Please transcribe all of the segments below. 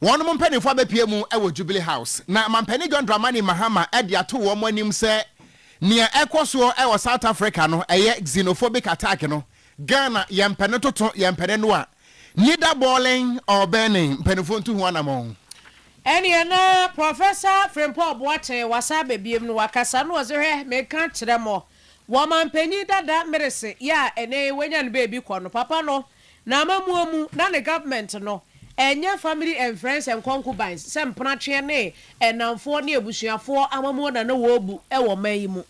Wɔn mpaninfoɔ abɛpue mu wɔ Jubilee House na Mampanin John Dramani Mahama de ato wɔn anim sɛ nea ɛrekɔ soɔ wɔ South Africa no ɛyɛ xenophobic attack no, Ghana yɛn pɛ ne toto yɛn pɛ ne noa, neither boiling or burning, mpaninfoɔ ntu ho anamɔn. Ɛneɛ na Professor Frimpong Boateng wasan aba biom no wakasa no ɔse hwɛ menka nkyerɛ mo wɔ Mampanin dada Merese yɛ a ɛnɛ yi wanya no baabi kɔ no papa no N'amammuo mu, na ne government no ɛnyɛ family and friends and concubines sɛ mpenatweɛ ne nnamfoɔ ne abusuafoɔ amammuo na na wɔbu wɔ man yi mu.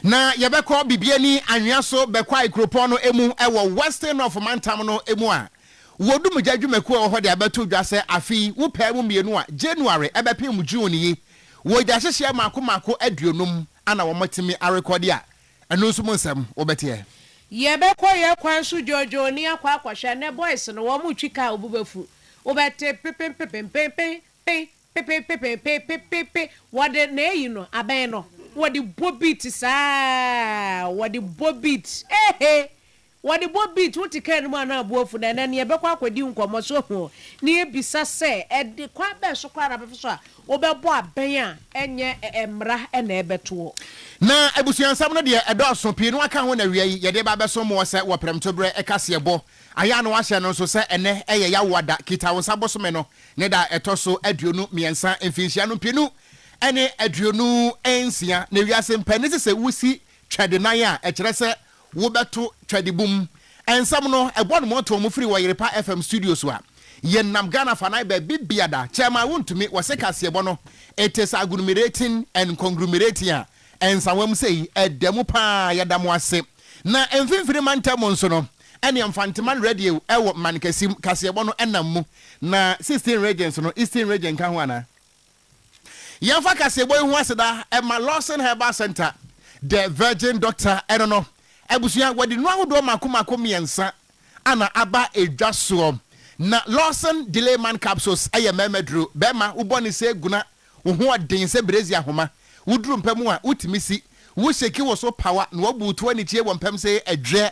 Na yɛbɛkɔ Bibiani anwea so bɛkwae kuropɔn no mu wɔ Western North mantam no mu a, wɔ dumgya dwumakuo a ɛwɔ hɔ de abɛto dwa sɛ afe yi wopɛɛ mu mmienu a January bɛpem June yi wɔ gyahyehyeɛ mmaako mmaako aduonum a na wɔatumi arekɔde a Ɛno nso mo nsɛm wo bɛteɛ. Yɛbɛkɔ yɛ kwan so dwoodwoo ni akɔ akɔhwɛ nɛ boys no wɔn retwi car obu bɛfu wo bɛte pepenpepenpenpen pen pepenpepenpen pepepe wɔde nɛ ayi no abɛn no wɔde bɔ beat saa wɔde bɔ beat ehe Wɔde bɔ beat, wote car no mu a na abo afu, na ɛnnɛ no yɛbɛkɔ akɔdi nkɔmmɔ, so hu, na yɛbisa sɛ, ɛde kwan bɛn so koraa na bɛfa so a wobɛbɔ abɛn a ɛnyɛ mmara na ɛbɛto wo? Na abusuansɛm no deɛ ɛdɔɔso, pii no aka ho na awia yi yɛde reba abɛsom mo ɔsɛ wɔ Prɛmtoberɛ kaseɛbɔ ayɛ a na wɔahyɛ no nso sɛ ɛnnɛ yɛ Yawoada Kita Wo Nsa bosome no ne da a ɛtɔ so aduonu mmiɛnsa, mfinhyia no mpenu ne aduonu nsia, na wiase mpanin se sɛ wosi Twɛde nan a ɛkyerɛ sɛ wobɛto Twɛde bum nsɛm no ɛbɔ no mɔntɔn mu firi wɔ Yerepa FM studios a yɛn nam Ghana fanan baabi biada kyɛ ma wontumi wɔ se kaseɛbɔ no it is agglumerating and conglumerating a nsawam sei ɛda mu paa yɛda mo ase na mfimfini mantam mu nso no ɛne Mfanteman Radio ɛwɔ Mankasi mu kaseɛbɔ no ɛnam mu na 16 regions no Eastern region ka ho anaa? Yɛmfa kaseɛbɔ yi ho aseda ma Lawson Herbal Centre, The Virgin Doctor, ɛno no, abusua, wɔde nnuro ahodoɔ mmaako mmaako mmiɛnsa ana aba dwa soɔ. Na Lawson Delay Man Capsules yɛ mmarima duro, barima wo bɔne sɛ eguna, wo ho ɔden sɛ berezi ahoma, woduru mpam a wotumi si, wo shake wo so pawa na wabuutu anikyie wɔ mpam sɛ ɛdweɛ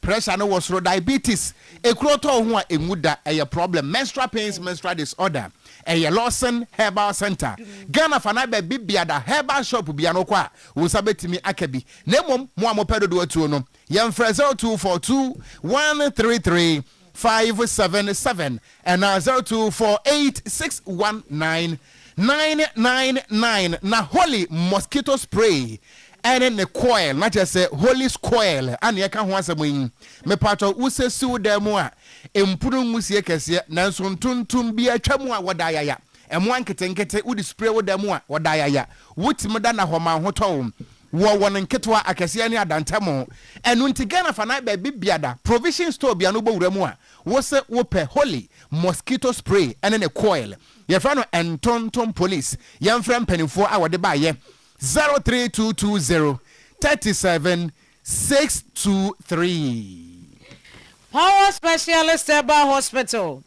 Pressure no wɔ soro Diabetes Ekuro tɔ wo ho a enwu da Ɛyɛ problem Menstrual pains Menstrual disorder Ɛyɛ Lawson Herbal Centre Ghana fa no ayɛ baabi biada Herbal shop biano wokɔ a wo nsa bɛtumi aka bi Na mmom mo a mopɛ dodoɔ tuo no yɛmfrɛ 0242 133 five seven seven anaa zero two four eight six one nine nine nine nine na holy mosquito spray ɛne ne coil na kyerɛ sɛ holy's coil ana yɛka ho asɛm yi mepaatɔ wo sɛ siw dan mu a mpunu nwusie kɛseɛ nanso ntontom bi atwa mu a wɔda ayaya mmoa nketenkete wode spray wo dan mu a wɔda ayaya wotumi da na hɔ ma ho tɔ wo Wɔ wɔn nketewa, akɛseɛ ne adantamu. Ɛno nti Ghana fa nan baabi biada provision store bia no wobɔ wura mu a wose wopɛ Holy mosquito spray ne ne coil yɛfrɛ no Ntontom police yɛmfrɛ mpaninfoɔ a wɔde ba yɛ 03220 37 623. Power Specialist Herbal Hospital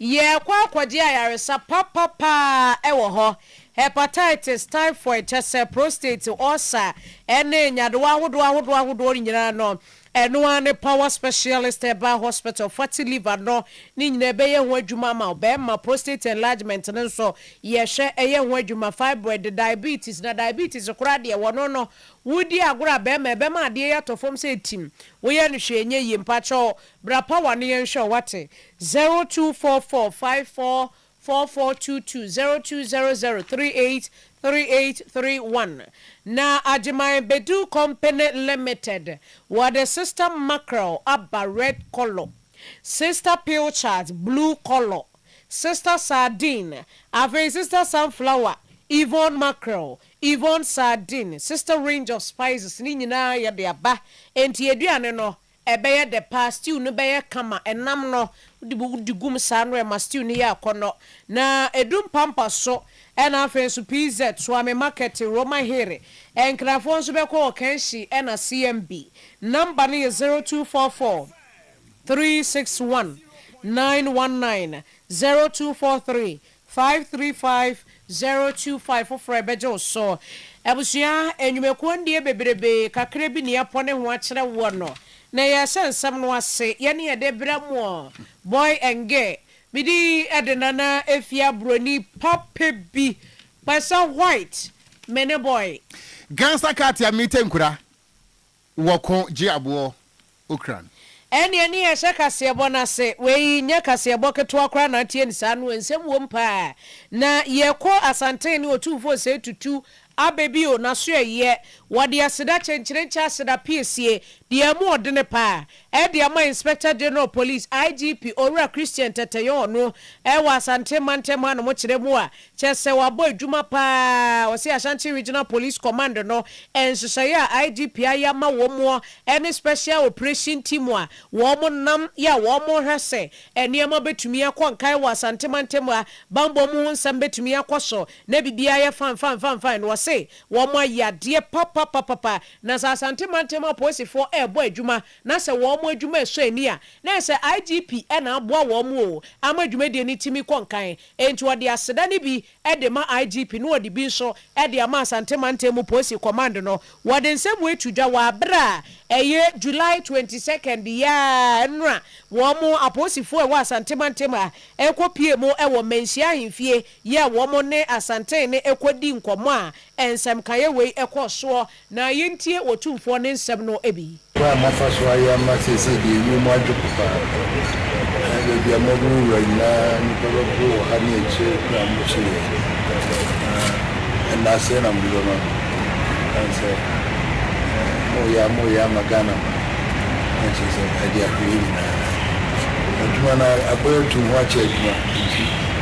Yɛrekɔ akɔgye ayaresa papa paa wɔ hɔ, hepatitis, typhoid, kyɛ sɛ prostate, ulcer, ne nyadewa ahodoɔ ahodoɔ ahodoɔ no nyinaa no, ɛno ara ne Power Specialist Herbal Hospital, fatty liver no, ne nyinaa ɛbɛyɛ ho adwuma ama wo. Bɛɛma, prostate enlargement no nso, yɛhwɛ, ɛyɛ ho adwuma, fibroid, diabetes, na diabetes koraa deɛ, wɔno no, wodi agorɔ a bɛɛma, ɛbɛma adeɛ yi atɔ fam sɛ tim, woyɛ no hwee ɛnyɛ yie, mpakyɛw, Bra pa w'ano yɛnhwɛ wo wate zero two four four five four four four two two zero two zero zero three eight three eight three one na Agyeman Bedu company limited wɔde sister mackerel aba red kɔlɔ sister pilchard blue kɔlɔ sister sardine afei sister sunflower Yvonne mackerel Yvonne sardine sister range of spices ne nyinaa yɛde aba enti aduane no Ɛbɛyɛ dɛ paa, stew no bɛyɛ kama. Nam no, wode bi wode gu mu saa no ɛma stew no yɛ akɔnnɔ. Na edu mpampa so. Ɛna afei nso PZ, Suame Market, Roma Hiri. Nkrafoɔ nso bɛkɔ wɔ Kanshi ɛna CMB. Number no yɛ zero two four four three six one nine one nine zero two four three Five three five zero two five foforɔ a ɛbɛgye wo so. Abusua, nnwumakuo ndeɛ bebrebe, kakra bi na yɛapɔ ne ho akyerɛ woɔ no, na yɛrehyɛ nsɛm no ase. Yɛne yɛde brɛ moɔ, Boy and Girl. Me din de Nana Afia Broni papa bi, Kpɛsɛ White, me ne Boy. Gansa Katia Mite Nkura. Wɔko gye aboɔ okran. Ɛneɛ ne yɛhyɛ kaseɛbɔ no ase, wei nyɛ kaseɛbɔ ketewa koraa na ateɛ no saa no, nsɛm wom paa. Na yɛkɔ Asanten ne Otumfoɔ Osei Tutu aba bio, n'asoɛeɛ, wɔde aseda kyenkyenenkyɛ aseda piesie, deɛ ɛmu ɔdene paa, Ɛde ama Inspector General Police, IGP, Owura Christian Tɛtɛyɛ ɔno wɔ Asante mantam hanom kyerɛ mu a kyerɛ sɛ wabɔ adwuma pa ara. Ɔse Ashanti Regional Police Command no nhyehyɛeɛ a IGP ayɛ ama wɔn muɔ ne Special Operation Team a wɔn nam yɛ a wɔn hwɛ sɛ nneɛma bɛtumi akɔ nkan wɔ Asante mantam ha banbɔ mu ho nsɛm bɛtumi akɔ so na biribiara ayɛ fanfanfanfan no ɔse wɔn ayɛ adeɛ papapapapa Na sɛ Asante mantam apolisifoɔ rebɔ adwuma na sɛ wɔn adwuma ɛsɔ ani a, na ɛyɛ sɛ IGP na aboa wɔn oo ama dwumadie no tumi kɔ nkan. Enti ɔde aseda no bi de ma IGP na ɔde bi nso de ama Asante mantam polisi kɔmand no. Wɔde nsɛm wei to dwa wɔ aberɛ a ɛyɛ July twenty second yi ara no a wɔn apolisifoɔ a ɛwɔ Asante mantam a ɛkɔpie mu wɔ Manhyia ahemfie yɛɛ wɔn ne Asantehene no ɛkɔdii nkɔmmɔ a nsɛmkaeɛ wei ɛkɔɔ soɔ na yɛntie Otumfoɔ no nsɛm no bi. Kwan a moafa so ayɛ ama seesei deɛ ɛwiem mu adwo po paa. Baabi a moaboro wura nyinaa, nnipa bɛpo wɔ ha ne akyire berɛ a mokye yɛn no. Na ɛnna sɛn na mode bɛma me? Ɛsiane sɛ moreyɛ a moreyɛ ama Ghana man na kyerɛ sɛ ɛde ahwɛyɛ nyinaa. Adwuma no abɔ yɛn atuu ho akyɛ adwuma nti,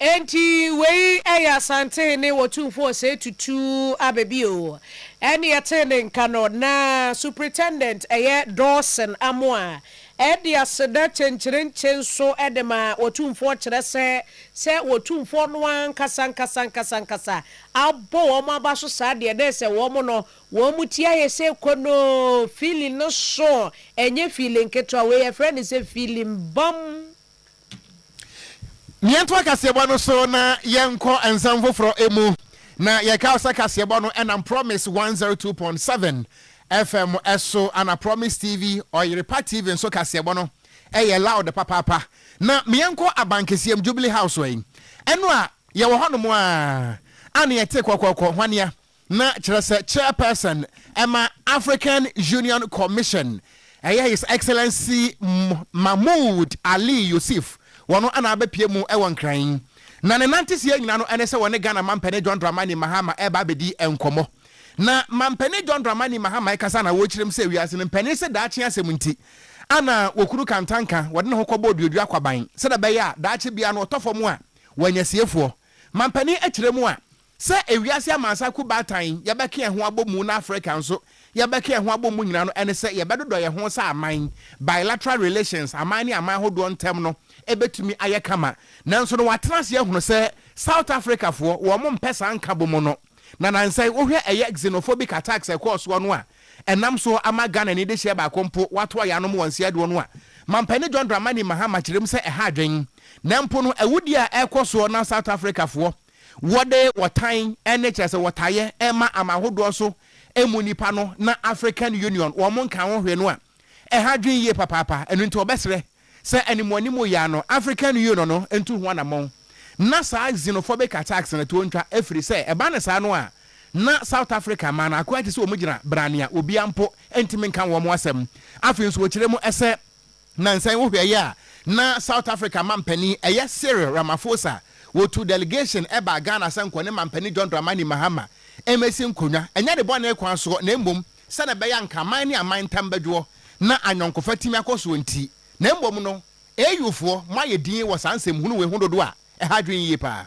Enti wei ɛyɛ Asante hene wɔtumfoɔ ɔsɛe tutu aba bi oo. Ɛne yɛtee ne nka no na Supritendent ɛyɛ Dawson Amoah Ɛde aseda kyenkyerenkye nso de ma Otumfoɔ kyerɛ sɛ, sɛ Otumfoɔ no ara ankasankasankasankasa abɔ wɔn aba so saa deɛ, na ɛsɛ wɔn no, wɔn ti ayɛ sɛ konoo, feeling no so, ɛnyɛ feeling ketewa, wei yɛfrɛ no sɛ feeling bam. Yɛntoa kaseɛbɔ no so na yɛnkɔ nsɛm foforɔ mu. Na yɛka wo sɛ kaseɛbɔ no ɛnam Promise 102.7 FM so ana Promise TV, Ɔyerepa TV nso kaseɛbɔ no ɛyɛ loud papaapa. Na yɛnkɔ Abankɛseɛm, Jubilee House, ɛno a yɛwɔ hɔnom a, a na yɛte kɔkɔkɔ hwanea. na kyerɛ sɛ Chairperson ɛma African Union Commission ɛyɛ His Excellency Mahmoud Ali Yousif wɔ no na abɛpue mu wɔ Nkran yi. Na ne nanteseɛ nyina no ɛne sɛ wɔ ne Ghana Mampɛne John Dramani Mahama ɛreba abɛdi nkɔmmɔ. Na Mampɛne John Dramani Mahama ɛkasa na wɔrekyerɛ mu sɛ wiase no mpanin se daakye asɛm nti ana wɔkunu kantanka wɔde ne ho kɔbɔ oduadua kwaban sɛdeɛ ɛbɛyɛ a daakye biara no ɔtɔ fam a wɔanya siefoɔ. Mampɛne ɛkyerɛ mu a Sɛ ewiase amansan ko baatan yɛbɛka yɛn ho abɔ mu na Afrika nso yɛbɛka yɛn ho abɔ mu nyina no ɛne sɛ yɛbɛdodɔ yɛn ho sɛ aman. Bilateral relations, aman ne aman ahodoɔ ntɛm no, ɛbɛtumi ayɛ kama. Nanso no watena ase ahunu sɛ South Africa foɔ wɔn mpɛ saa nkabomu no. Na nansɛn wohwɛ ɛyɛ xenophobic attacks ɛkɔɔ soɔ no a ɛnam soɔ ama Ghana ani dehyeɛ baako mpo wato ayɛ anom wɔ nseɛ doɔ no a Mampanin John Dramani Mahama kyerɛm sɛ ɛha adwen. Nanpo no awudie a ɛrekɔ soɔ na South Africa foɔ wɔde wɔtan ne kyerɛ sɛ wɔtayɛ ma aman hodoɔ so mu nnipa no na African Union wɔn nka ho hwee no a, ɛha adwene yie papaapa. Ɛno nti wɔbɛsrɛ sɛ animuanimu yea no African Union no ntu ho anamɔn na saa xenophobic attacks no toɔ ntwa ɛfiri sɛ ɛba no saa no a na South Africa man no akoa te sɛ wɔn gyina bra nea obiara mpo ntumi nka wɔn asɛm. Afei nso wɔkyerɛ mu sɛ Nnansa yi wohwɛeɛ a, na South Africa mampanin, ɛyɛ Cyril Ramaphosa, wɔtuu delegation baa Ghana sɛ nkɔ ne mampanin John Dramani Mahama mmɛsi nkonnwa, ɛnyɛ ne bɔne kwan soɔ na mmom sɛdeɛ ɛbɛyɛ a anka aman ne aman ntam bɛdwoɔ na ayɔnkofa atumi akɔ soɔ nti. Na mmom no, AU foɔ, moayɛ dinn wɔ saa nsɛmhunu wei ho dodo a ɛha adwene yie pa ara.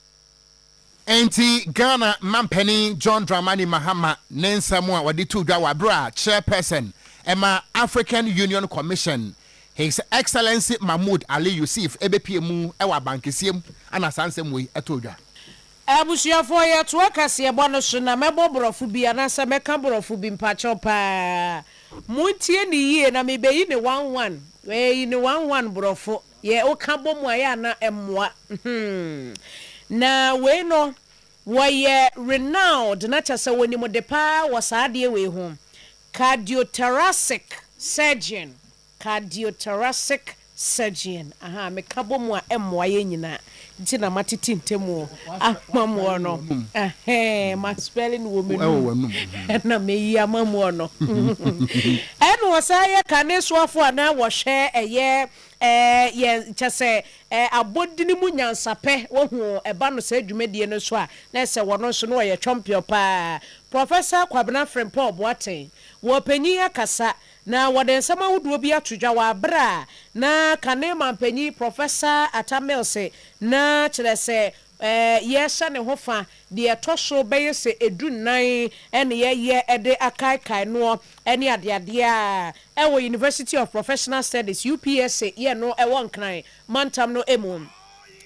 Enti Ghana Mampanin John Dramani Mahama ne nsɛm a ɔde too dwa wɔ bere a Chairperson ma African Union Commission His Excellency Mahmoud Ali Yousif bepue mu wɔ abankɛseɛ mu na saa nsɛm wei too dwa. Abusuafoɔ yɛtoa kaseɛbɔ no so na mɛbɔ borɔfo bi anaasɛ mɛka borɔfo bi mpakyɛw paa montie ne yie na mebeyi ne one one, wɔayi ne one one borɔfo. Yɛ wo ka bɔ mu a yɛ a na ɛmmoa hmm na wei no wɔyɛ renowned na kyɛ sɛ wɔnim de paa wɔ saa adeɛ wei ho cardiothoracic surgeon cardiothoracic surgeon ahaa me ka bɔ mu a ɛmmoa yɛ nyinaa nti na matete ntɛmu ama moɔ no ɛhɛɛ ma spelling wɔ me num ɛna meyi ama moɔ no ɛna wɔsan yɛ kanesoafo anaa wɔhwɛ ɛyɛ Ɛɛ, yɛ, kyɛ sɛ, ɛɛ, abɔdini mu nyansapɛ, wahu, ɛba no saa dwumadie no so a, na ɛsɛ wɔno nso, na ɔyɛ twɔmpeɔ pa ara. Professor Kwabena Frimpong Boateng, wɔ panyin akasa, na wɔde nsɛm ahodoɔ bi ato dwa wɔ aberɛ a na kane mampanyin Professor Atta Mills na, kyerɛ sɛ, Ɛɛ, yɛhyɛ ne ho fa. Deɛ ɛtɔ so bɛyɛ sɛ du nnan na yɛyɛ de akaekae noɔ ne adeadeɛ a ɛwɔ University of Professional Studies, UPSA, yɛ no wɔ Nkran mantam no mu.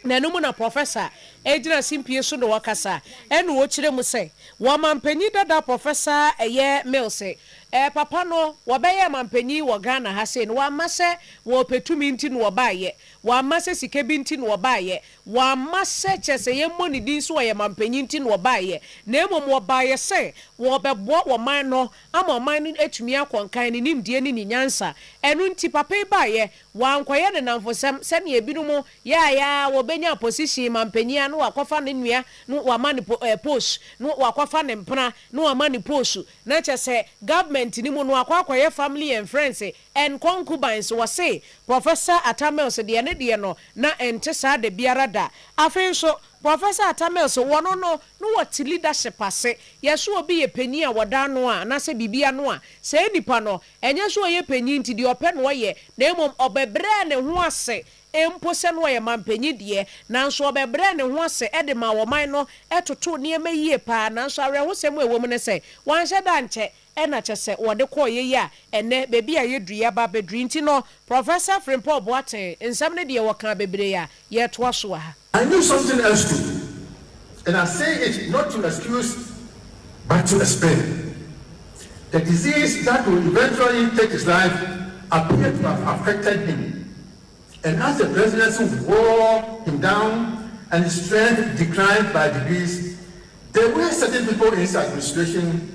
Na ɛno mu na Professor gyina simpie so na ɔkasa na ɔkyerɛ mu sɛ wɔmanpanyin dada Professor ɛyɛ Mills ɛɛ papa no wɔbɛyɛɛ manpanyin wɔ Ghana ha sei no wɔamma sɛ wɔpɛ tumi nti na wɔbaeɛ, wɔamma sɛ sika bi nti na wɔbaeɛ, Wamma sɛ kyerɛ sɛ yɛmmɔ ne din sɛ ɔyɛ mampanyin nti na ɔbaeɛ, na mmom ɔbaeɛ sɛ wɔrebɛboa ɔman no ama ɔman no atumi akɔ nkan, ne nimdeɛ ne ne nyansa. Ɛno nti papa yi baeɛ, wankɔyɛ ne nnamfosɛm sɛdeɛ binom yɛ a yɛ ara wɔbɛnya position mampanyin a na wakɔfa ne nua na wama no po eh post, na wakɔfa ne mpena na wama no post, na kyerɛ sɛ government no mu no wakɔ akɔyɛ family and friends eh. And concubines so wɔse Professor Atta Mills deɛ ne deɛ no na ɛnte saa da biara da. Afei nso Professor Atta Mills wɔno no no wɔte leadership ase. Yɛse obi yɛ panyin a wɔda ano a anaasɛ biribi ano a, saa nipa no ɛnyɛ sɛ ɔyɛ panyin nti deɛ ɔpɛ na ɔyɛ na mmom ɔbɛbrɛɛ ne ho ase mpo sɛ na ɔyɛ manpanyin deɛ nanso ɔbɛbrɛɛ ne ho ase de maa ɔman no totoo nneɛma yie paa nanso awerɛhosɛm a ɛwɔ mu ne sɛ wanhyɛ da ankyɛ Ɛna kyɛ sɛ wɔde kɔɔ yɛ yi a ɛnnɛ baabi a yɛduru yi aba bɛduru yi nti no, Professor Frimpong Boateng nsɛm no deɛ wɔkaa bebree a yɛretoa so wɔ ha. I knew something else too and I say it not to excuse but to explain. The disease that would eventually take his life appeared to have affected him. And as the presidency wore him down and his strength declined by degrees, there were certain people in his administration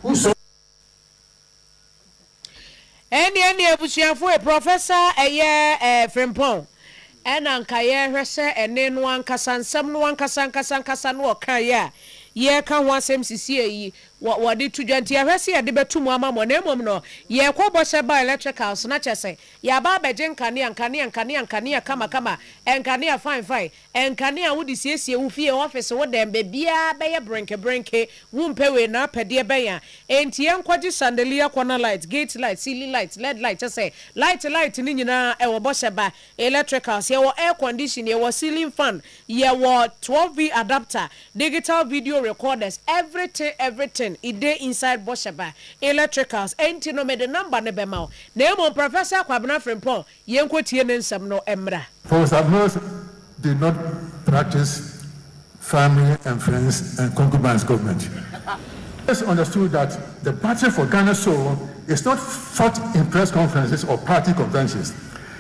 who saw. Ɛnde ɛnde abusuafoe, Professor ɛyɛ eh, Frimpong, ɛna nka yɛrehwɛ sɛ ɛne no ankasa, nsɛm no ankasa ankasa ankasa no ɔkaeɛ a yɛreka ho asɛm sesie yi, wɔ, wɔde to dwa nti, yɛhwɛ sɛ yɛde bɛto mu ama mo. Na mmom no, yɛkɔ bɔ sɛ bioelectricals, na kyerɛ sɛ, Yɛaba abɛgye nkanea, nkanea, nkanea, nkanea kamakama, nkanea fine fine, nkanea a wode siesie wo fie, office, wo dan, baabiara bɛyɛ brenke brenke, wompɛ wei na apɛ deɛ bɛn a? Enti yɛnkɔgye chandelier corner light, gate light, ceiling light, led light, kyɛ sɛ light light no nyinaa ɛwɔ bɔhyɛ ba, electricals, yɛwɔ air condition, yɛwɔ ceiling fan, Yɛwɔ twelve V adapter, digital video recorders, everything everything it dey inside bɔhyɛ ba, electricals, ɛnti no mede number no bɛma wo, na mmom Professor Kwabena Frimpong yɛnkɔ tie ne nsɛm no mmra. Paul Sablos did not practice family and friends and concubines government. He always understood that the battle for Ghana's soul is not fought in press conferences or party conventions.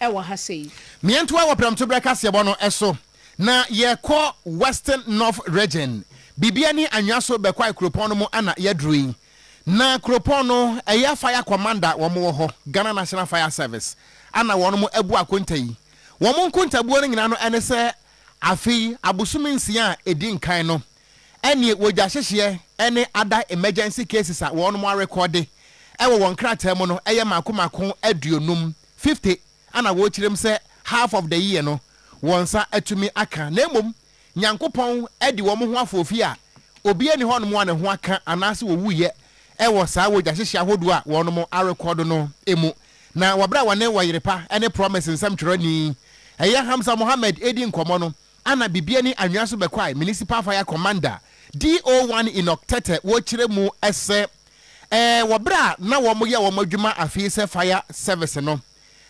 ɛwɔ ha sɛ yi. Miɛntoa wɔ Prɛmtoberɛ kaseɛbɔ no so na yɛkɔ Western North Region. Bibia ni anwea so bɛkwae kuropɔn no mu ana yɛduru yi. Na kuropɔn no ɛyɛ fire commander wɔn wɔ hɔ, Ghana National Fire Service, ana wɔn mo abu akonta yi. Wɔn mo nkontabuo no nyinaa no ɛne sɛ afei abosome nsia a ɛdi nkan no ɛneɛ wɔgya hyehyeɛ ne ada emergency cases a wɔnom arekɔɔde wɔ wɔn nkrataa mu no yɛ mako mako aduonum, fifty, ana wɔkyerɛm sɛ half of the year no wɔn nsa atumi aka na mmom Nyankopɔn adi wɔn ho afoofi a obiara nni hɔnom a ne ho aka anaase wɔwuiɛ wɔ saa wɔgya hyehyeɛ ahodoɔ a wɔnom arekɔɔdo no mu na wɔberɛ a wɔne wɔyerepa ne promise nsɛmtwerɛni ɛyɛ Hamza Mohammed redi nkɔmmɔ no Ana bibia ni anwea so bɛkwae municipal fire commander DO one Enoch Tete wɔ kyerɛ mu sɛ ɛɛ wɔ berɛ a na wɔn yɛ wɔn adwuma afei sɛ fire service no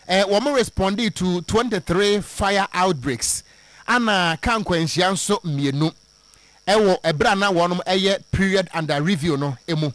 ɛɛ wɔn respondee to twenty three fire outbreaks ana ka nkwanhyia nso mmienu ɛwɔ ɛberɛ a na wɔn ɛyɛ period under review no ɛmu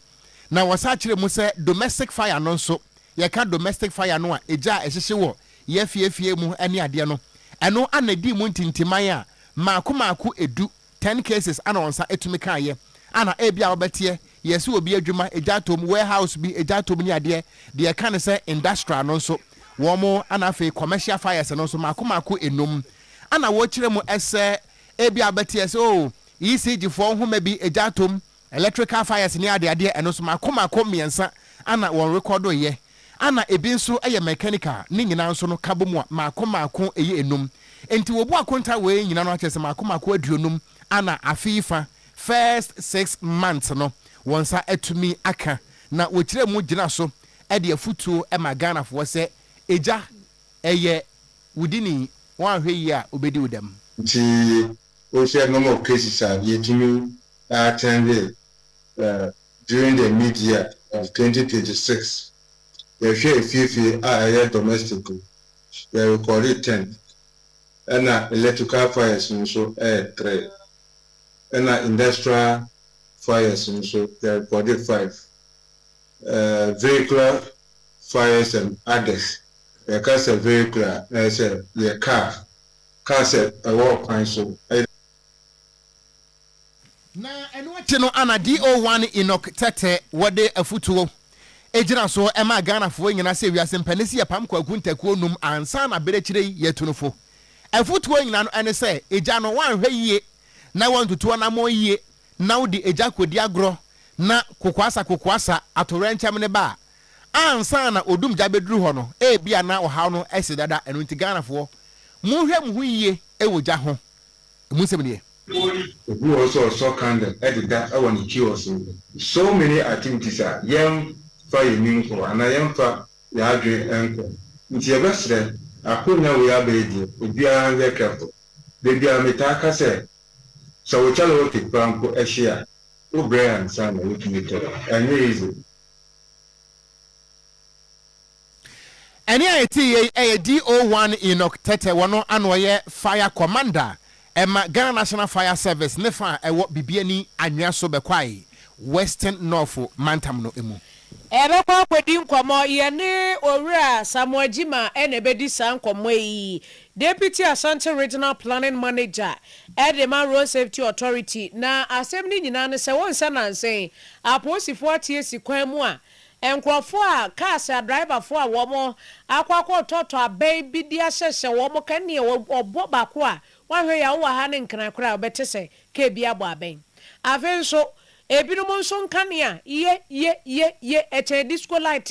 na wɔsa kyerɛ mu sɛ domestic fire no nso Yɛka domestic fire no a, egya a ɛhyehye wɔ yɛ fie fie mu ne adeɛ no. Ɛno ana ɛdii mu ntintiman a maako maako ɛdu, ten cases ana wɔn nsa ɛtumi kaeɛ. Ana ebia wobɛteɛ, yɛse obi adwuma, egya tɔ mu, warehouse bi, egya tɔ mu ne adeɛ. Deɛ ɛka ne sɛ industrial no nso, wɔn ana afei commercial fires no nso maako maako ɛnum. Ana wɔkyerɛ mu sɛ ebia wobɛteɛ sɛ oh, ECG foɔ nhoma bi, egya tɔ mu, Electrical fires ne adeadeɛ ɛno nso mako mako mmiɛnsa ana wɔn rekɔdo yɛ ana ebi nso yɛ mechanical ne nyinaa nso no ka bom a mako mako ɛyɛ enum nti wobu akonta wei nyina no akyɛsɛ mako mako aduonum ana afe yi fa first six months no wɔn nsa atumi aka na wɔkyerɛ mu gyina so ɛde afutuo ɛma Ghana foɔ sɛ egya ɛyɛ wodini wɔanhwɛ yie a obedi wo dɛm. Nti What are some of cases a yɛtumi attendee during the mid year of twenty twenty six? Yɛhwɛ efiefie a ɛyɛ domestic no, yɛ recordee ten, ɛna electrical fires no nso yɛ three, ɛna industrial fires no nso yɛ recordee five, vehicular fires and others, yɛka sɛ vehicular a na ɛyɛ sɛ yɛ car Kaa sɛ ɛwɔ kwan so ɛ. Na ɛno akyi no ana DO1 Enoch Tete wɔ de afutuo gyina so maa Ghanafoɔ nyinaa sɛ wiase mpɛ ne sɛ yɛ pam kwaku ntakuo num ansa na berɛ kyire yi yɛ tu no fo. Afutuo nyinaa no ɛne sɛ egya no wanhwɛ yie na wantutu anamɔn yie na wo de egya kɔdi agorɔ na kokoasa kokoasa atowerɛnkyɛm ne ba a Ansa na odum gya bɛduru hɔ no, ebia na ɔhaw no asi dada, ɛno nti Ghanafoɔ, monhwɛ mo ho yie wɔ gya ho. Ɛmu nsɛm nie. Obi wɔ hɔ nso a ɔsɔ candle de da wɔ ne kiosk so. So many activities a yɛmfa yɛn ani nkɔ anaa yɛmfa yɛn adwene nkɔ. Nti yɛbɛsrɛ, akonnwa wei aba yi deɛ, obiara nyɛ careful. Da biara metaa ka sɛ, sɛ wo kyale wɔte koraa mpo hye a, wobrɛ ansa na woatumi tɔ. Ɛnyɛ easy. Ɛnne a ɛte yei yɛ DO one Enoch Tetteh wɔ no a na ɔyɛ Fire Commander ma Ghana National Fire Service ne fa a ɛwɔ Bibiani Anwea so Bekwai Western Nɔɔfo Mantam no mu. Ɛbɛkɔ akɔdi nkɔmmɔ. Yɛne Owura Samoa Gyima na ɛbɛdi saa nkɔmmɔ yi. Deputy Asante Regional Planning Manager de ma Road Safety Authority. Na asɛm no nyinaa ne sɛ wonsɛ nanse Apolisifo atie si kwan mu a nkurɔfo a cars a drivefo a wɔakɔ akɔtɔtɔ abɛn bi de ahyɛhyɛ wɔn ka nea ɔbɔ baako a wahwɛ yaw wɔ ha no nkran koraa a wobɛte sɛ car bi abɔ abɛn. Afei nso ebinom nso nkanea ye ye ye ye ɛkyɛn disco light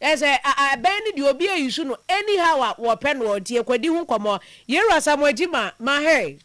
Ɛ sɛ a a bɛn ne deɛ obi a isu no any how a wɔ pɛ noɔ nti ɛkɔ di ho nkɔmɔ Yɛwura Asamoah Gyima ma hɛɛ.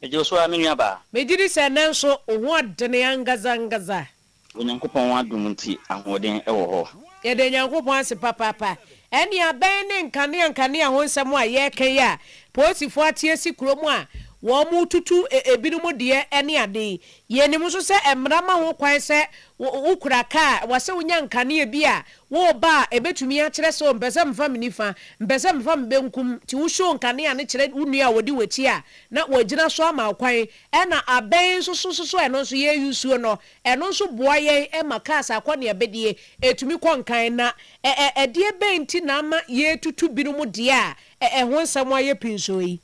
Megyeo so ara me nua baa. Megyedi sɛ ɛnɛ nso wo ho adene angadza angadza. Wɔ Nyankopɔn adom nti ahoɔden wɔ hɔ. Yɛda Nyankopɔn ase papaapa. Ɛnea bɛn ne nkanea nkanea ho nsɛm a yɛreka yi a poosifoɔ ate asi kurom a wɔretutu ebinom deɛ ne ade yi? Yenim nso sɛ mmara ma ho kwan sɛ wokura kaa a, ɛwɔ sɛ wonya nkanea bi a woreba a ebetumi akyerɛ sɛ, 'Oh, mepɛ sɛ mefa me nifa, mepɛ sɛ mefa me benkum. Nti wohyew nkanea no kyerɛ wo nua a odi w'akyi a, na wagyina so ama wo kwan. Ɛna abɛn nso so nso so ɛno nso yɛusuo no, ɛno nso boa yɛn ma cars akɔ nea ɛbɛdie, ɛtumi kɔ nkan. Na ɛ-ɛ ɛdeɛ bɛn nti na ama yɛretutu binom deɛ a ɛ-ɛ ɛho nsɛm ayɛ pinsoo yi?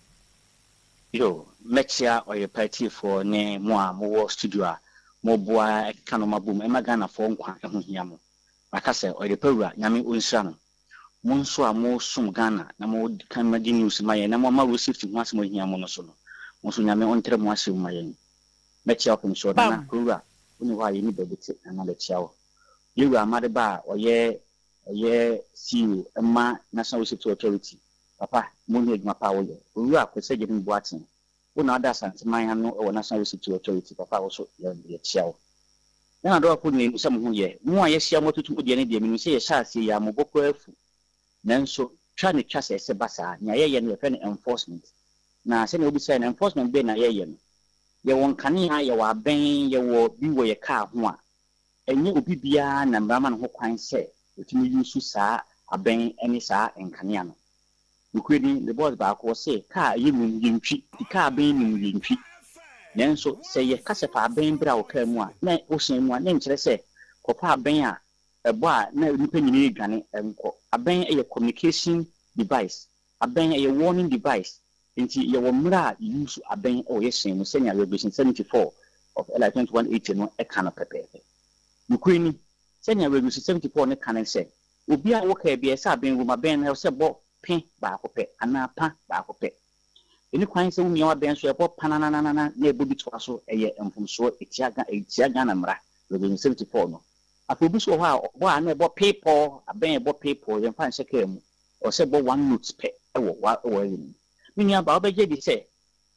Yo, mɛkyea ɔyɛpa atiefoɔ ne mo a mowɔ studio a moboa ɛkeka nnoɔma bom ɛma Ghanafoɔ nkwa ɛho hia mo. Maka sɛ ɔyɛpa wura Nyame ɔnhyira no. Mo nso a mosom Ghana na mo kan ma gye news ma yɛn na moama road safety ho asɛm ahia mo no so no, mo nso Nyame ɔntrɛ mo ahyɛ mu ma yɛn. Mɛkyea ɔpemsoɔ Nana Kowura wone hɔ a yɛni baabi te Nana bɛkyea wo. Yɛwura Amade Ba a ɔyɛ ɔyɛ CEO ɛma National Road Safety Authority Papa, mo hu adwuma pa a wo yɛ. Owura Kwesi Agyemang Boateng, wo na wada Asanteman ano wɔ National Restitute Authority, papa wo so yɛ yɛ kyia wo. Ghana Adɔwafo nyina nim sɛ mo ho yɛ. Mo a yɛahyia mo atutu mo deɛ ne deɛ, menim sɛ yɛhyɛ aseɛ yi a mo bo koraa afu. Nanso, twa ne twa sɛ ɛsɛ ba saa. Nea yɛyɛ no yɛfrɛ no enforcement. Na sɛnea wobisaeɛ no, enforcement bɛn na yɛyɛ no? Yɛwɔ nkanea, yɛwɔ abɛn, yɛwɔ bi wɔ yɛ car ho a Ɛnyɛ obi biara na mmara ma no ho kwan sɛ ɔtumi yuusu saa abɛn ne saa nkanea no. Nokorɛ ni, me bɔs baako, ɔse kaa a ɛyɛ num yɛntwi. Ti kaa abɛn num yɛntwi. Nanso sɛ yɛ ka sɛ fa abɛn bra wo kaa mu a, na wo hyɛn mu a, na ɛnkyerɛ sɛ kɔfa abɛn a ɛbɔ a na nnipa nyinaa ɛredwane nkɔ. Abɛn yɛ communication device. Abɛn ɛyɛ warning device nti yɛwɔ mmerɛ a yɛ use abɛn wɔ yɛ hyɛn mu sɛnea Revelation seventy four of LI twenty one eighty no ka no pɛpɛɛpɛ. Nokorɛ ni, sɛnea Revelation seventy four no ka no sɛ, Obiara a ɔwɔ kaa biara ɛsɛ abɛn wom, abɛn no ɛsɛ bɔ pe baako pɛ anaa pa baako pɛ. Ɛni kwan sɛ womia w'abɛn so ɛbɔ pananananana na ɛbɔ bi toa so, ɛyɛ mfomsoɔ, ɛtia ɛtia Ghana mmara, Revelation seventy four no. Afei obi nso wɔ hɔ a ɔbɔ a na ɛbɔ pee pɔɔ, abɛn a ɛbɔ pee pɔɔ yɛmfa nhyɛ kaa mu, Ɔwɔ sɛ bɔ one note pɛ wɔ w'aware mu. Me nua baa wobɛgye adi sɛ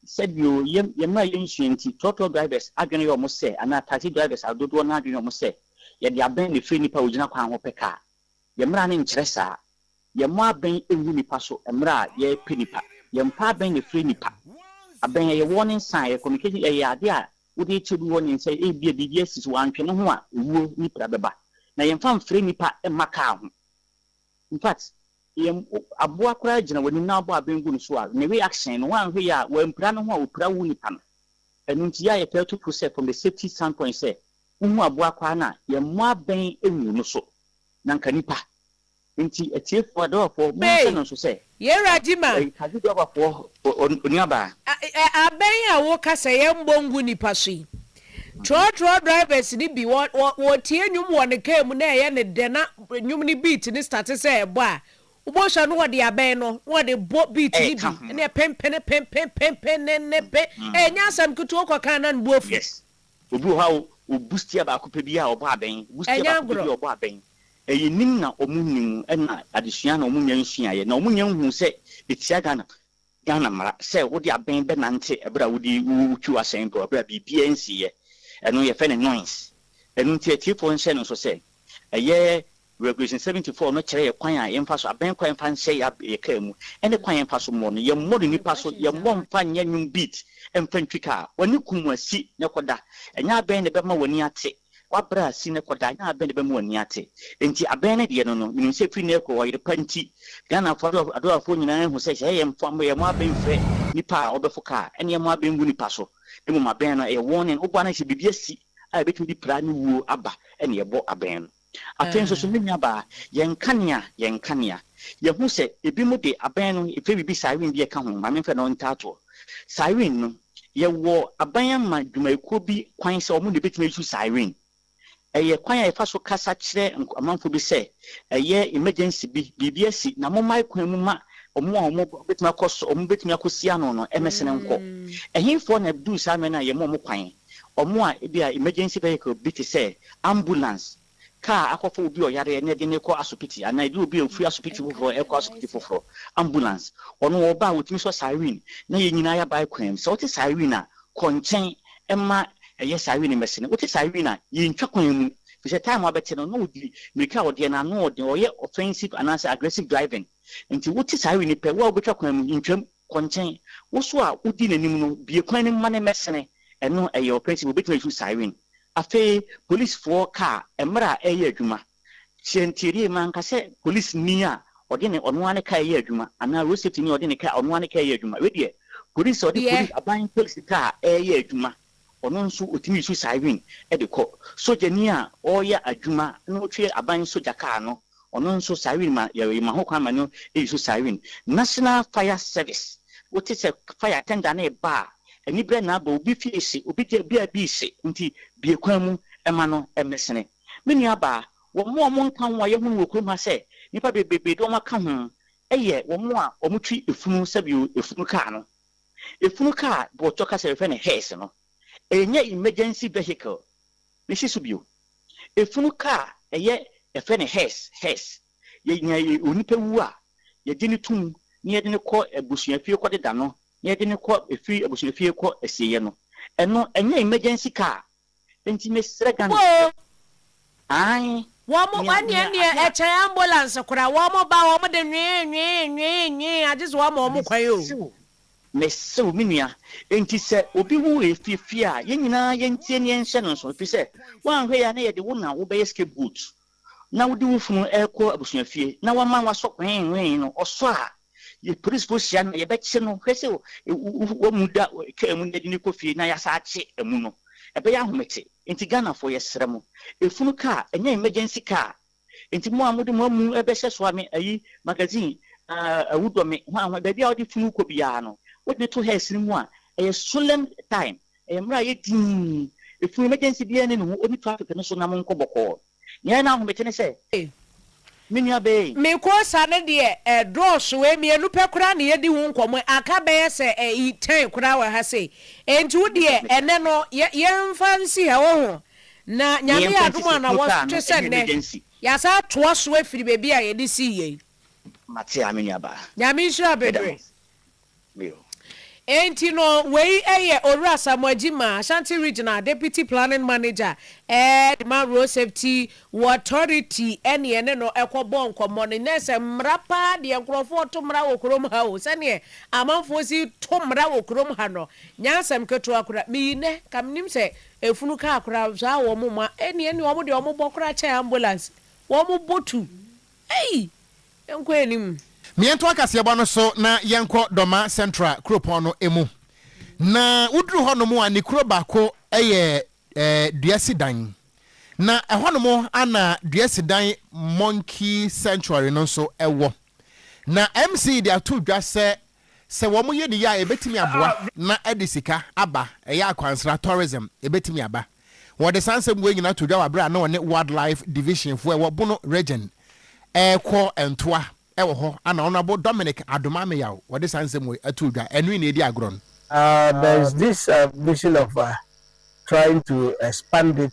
sɛ bio yɛn yɛn mmra yɛnsua nti trɔtrɔ drivers adwene yɛ wɔn sɛ anaa taxi drivers a dodoɔ no ara adwene yɛ wɔn sɛ yɛde abɛn na ɛfiri nnipa a wɔgyina kwan ho pɛ kaa. Yɛn mmra no nkyerɛ saa. Yɛmmɔ abɛn ngu nnipa so mmerɛ a yɛrepɛ nnipa. Yɛmpɛ abɛn na ɛfiri nnipa. Abɛn ɛyɛ warning sign, ɛyɛ communication, ɛyɛ adeɛ a wode rekyerɛ bi warning sɛ ebia biribi asi so, wantwe ne ho a owuo ne pira bɛba. Na yɛmfa mfrɛ nnipa mma kaa ho. In fact, yɛn aboa koraa gyina w'anim na wabɔ abɛn gu no so a, ne reaction no, woanhwɛ yie a, wampira ne ho a opira wo nipa no. Ɛno nti, yɛ a yɛtaa tu fo sɛ, from the safety standpoint sɛ, wohu aboa koraa no a, yɛmmɔ abɛn ngu no so. Na anka nipa. Enti, atiefoɔ, adɔɔfoɔ, monhyɛ no nso sɛ. Faith, Yɛwura Gyima. Ɛyi Tagye Jɔba foɔ onuabaa. Abɛn a wo ka sɛ yɛn bɔ ngu nipa so yi trɔtrɔ drivers no bi wɔ wɔ tie nwom wɔ ne car mu na ɛyɛ no dɛ na nwom no beat no starte sɛ ɛbɔ a wo bɔ hwɛ no ɔde abɛn no na ɔde bɔ beat no bi ɛne ɛpen pene pen pen pen pen ne ne pen ɛɛ nyɛ asɛm ketewa ɔkɔ kan na ne bo afu. Yes obi wɔ hɔ a o boost yɛ baako pɛ bi a ɔbɔ abɛn boost yɛ baako pɛ bi a ɔbɔ abɛn Ɛyɛ nim na ɔmo nnim ɛna adesua na ɔmo nya nsuaeɛ na ɔmo nya nhuu sɛ ɛtia Ghana Ghana mmara sɛ wode abɛn bɛnante ɛberɛ a wode wotwi w'asɛn do ɛberɛ a biribiara nsiiɛ ɛno yɛfrɛ no noise ɛno nti atiefoɔ nhyɛ no nso sɛ ɛyɛ Regulation seventy four no kyerɛ yɛ kwan a yɛmfa so abɛn kwan mfa nhyɛ yɛ yɛ kaa mu ɛne kwan yɛmfa so mmɔ no yɛmmɔ no nnipa so yɛmmɔ mfa nyɛ nnwom beat mfa ntwi kaa w'ani kum asi na kɔda ɛnyɛ abɛn na ɛbɛma w'ani ate W'abrɛ a si no kɔ daa, nyɛ abɛn de bɛma w'ani ate. Enti abɛn no deɛ no no, menim sɛ firi nnɛ rekɔ, ɔyere pa nti, Ghanafoɔ adoafoɔ nyinaa ahu sɛ, sɛ yɛmfa yɛn abɛn mfrɛ nipa a wɔbɛfo ka a, ɛne yɛn abɛn ngu nipa so. Na mmom abɛn no, ɛyɛ warning, woboa no sɛ biribi asi a ɛbɛtumi de pira ne wuo aba na yɛbɔ abɛn no. Afei nso so, me nuabaa, yɛn kanea, yɛn kanea. Yɛahu sɛ ebinom de abɛn no frɛ biribi siren bi a ɛka ho, ma memfrɛ no ntaatoɔ siren no, Yɛwɔ aban ama dwumayɛkuo bi kwan sɛ wɔn na ɛbɛtumi ayusu siren. Ɛyɛ kwan a yɛfa so kasa kyerɛ amanfoɔ bi sɛ ɛyɛ emergency bi, biribi asi na mommae kwan mu ma wɔn a wɔbɛtumi akɔ so, wɔn bɛtumi akɔsi ano no mmɛsene nkɔ. Ɛhefoɔ na ɛduru saa mmerɛ no a yɛma wɔn kwan? Wɔn a ebia emergency vehicle bi te sɛ ambulance, kaa akɔfa obi a ɔyare ɛne ɛde no rekɔ asopiti anaa ebi obi a ofiri asopiti foforɔ rekɔ asopiti foforɔ, ambulance. Ɔno ɔba a ɔtumi sɔ siren na yɛn nyinaa yɛabae kwan mu. Sɛ wote siren a, kɔ nkyɛn mma ɛyɛ siren mmɛse no. Wote siren a, yɛntwa kwan mu firi sɛ time a wobɛte no na ɔdi mmirika a ɔdeɛ no ano yɛ den, ɔyɛ offensive anaasɛ aggressive driving. Nti wote siren pɛ, wo a wobɛtwa kwan mu, ntwam. Kɔ nkyɛn. Wo nso a wudi n'anim no, bue kwan no ma no mmɛsene. Ɛno ɛyɛ ɔpɛ nti, wobetumi asusu siren. Afei polisfoɔ kaa mmerɛ a ɛreyɛ adwuma. Kyerɛ ntiedie, manka sɛ polisni a ɔde ne ɔno ara ne kaa reyɛ adwuma, anaa road safety ni a ɔde ne kaa ɔno ara ne kaa reyɛ adwuma. Wei deɛ, polis a ɔde Deɛ. polis aban polis kaa reyɛ adwuma. Ɔno nso otumi su siren de kɔ. Sogyani a ɔreyɛ adwuma na ɔtwe aban sogya kaa no, ɔno nso siren ma yɛma ho kwan ma no su siren. National Fire Service, wote sɛ fire tender no reba a, aniberɛ na abɔ, obi fie rehye, obi gya bi a bi rehye nti bue kwan mu ma no mmɛsene. Me nuabaa, wɔn a wɔka ho a yɛahu no wɔ kurom ha sɛ nnipa bebrebe de wɔn aka ho yɛ wɔn a wɔtwe funu sɛdeɛ funu kaa no Efunu kaa, borɔtɔ kasa a yɛfrɛ no hearse no, ɛnyɛ emergency vehicle ne si so bio. Efunu kaa a ɛyɛ yɛfrɛ no hearse, hearse, yɛ nea onipa wu a, yɛgye no tom na yɛde no kɔ abusuafie kɔdeda no na yɛde no kɔ efie abusuafie kɔ asieeɛ no. Ɛno, ɛnyɛ emergency car Nti mesrɛ Ghanafoɔ aane Wɔn nea ɛneɛ nea ɛneɛ ade a. ɛkyɛn ambulance koraa wɔn ba wɔn de nwee nwee nwee nwee agye sɛ wɔama wɔn kwan oo. Mese wo mese wo me nua nti sɛ obi ho refiafia a yɛn nyinaa yɛntie na yɛnhyɛ no nso ɛfiri sɛ woanhwɛ yɛ a na yɛde wo na wobɛyɛ scapegoat na wode wo funu rekɔ abusuafie na wama wasɔ hwee hwee no, ɔsɔ a, yɛ polisifo hyia na yɛbɛkye no. Hwɛ sɛ wamu da kaa mu na yɛde no kɔ fie na yɛasan akye amu no. Ɛbɛyɛ ahomete. Enti Ghanafoɔ, yɛsrɛ mo, efunu kaa, ɛnyɛ emergency kaa. Enti mo a mode mo amu rebɛhyɛ so a, me ayi, magazine, ah, Awudɔme, hwan hwan, baabi a wode funu rekɔ biara no, wode no to hearse no mu a, ɛyɛ solemn time. Ɛyɛ mmara a ɛyɛ dinn. Ɛfunu emergency biara nni ne ho, ɔnni traffic no so na mo nkɔ bɔkɔɔ. Nea ɛyɛ no ahomete ne sɛ, me nua bee. Me koosa no deɛ ɛdɔɔso ee, mmienu pɛ koraa na yɛdi ho nkɔmmɔ, aka bɛyɛ sɛ ɛyi ten koraa wɔ ha sei, enti wo deɛ ɛnnɛ no yɛ yɛmfa nsi ha woahu, na Nyame yɛ adom a na wɔtwe sɛ nnɛ yɛasan atoa so afiri baabi a yɛde sii yɛ yi. Mate aa me nua baa. Nyame nhyira bebree. bio. Enti no, wei yɛ Owura Asamoah Gyimah, Ashanti Regional Deputy Planning Manager ma Road Safety Authority ne yɛne no kɔbɔɔ nkɔmmɔ. Ne nyinaa sɛ mmara paa deɛ nkorɔfoɔ to mmara wɔ kurom ha o, sɛdeɛ amanfoɔ si to mmara wɔ kurom ha no, nyɛ asɛm ketewa koraa. Me yi nnɛ, nka mennim sɛ efunu kaa koraa, saa a wɔn mma, ɛnneɛ ne wɔn deɛ wɔbɔ koraa kyɛn ambulance, wɔbɔ tu. Ei! Yɛnkɔ anim. Meɛntoa kaseɛbɔ no so na yɛnkɔ Dɔma Central kuropɔn no mu. Na woduru hɔ nom a ne kuro baako yɛ dua si dan. Na ɛhɔ nom a na dua si dan Monkey Sanctuary no nso wɔ. Na MC de ato dwa sɛ Sɛ wɔyɛ no yie a, ɛbɛtumi aboa na ɛde sika aba, ɛyɛ akwansra, tourism, ɛbɛtumi aba. Wɔde saa nsɛm wei nyinaa too dwa wɔ berɛ a na wɔne Wildlife Division foɔ a ɛwɔ Bono Region rekɔ ntoa wɔ hɔ, ɛna Honourable Dominic Adomah-Meyaw wɔde saa nsɛm wei too dwa. Ɛno yi na ɛredi agorɔ no. There is this vision of trying to expand it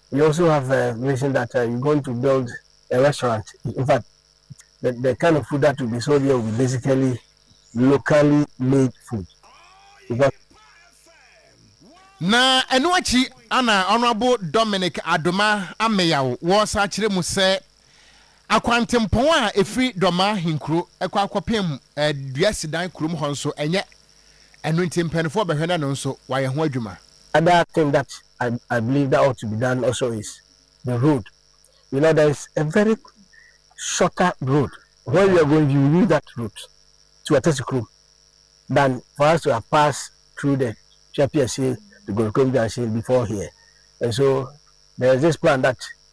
We also have uh, mentioned that uh, you're going to build a restaurant. In fact, the, the kind of food that will be sold here will be basically locally made food. Because na ɛno akyi ana honorable dominic adoma ameyaw wɔsa kyerɛ mu sɛ Akwantempɔn a ɛfiri Dɔma ahenkuro kɔ akɔpem Duasidan kurom hɔ nso ɛnyɛ, ɛno nti mpaninfoɔ bɛhwɛ na ɛno nso wɔayɛ ho adwuma. Other thing that I I believe that ought to be done also is the road you know there is a very shorter road when we are going you use that route to Atasi kurom than for us to have passed through the Twapiase to Gorkom junction before here and so there is this plan that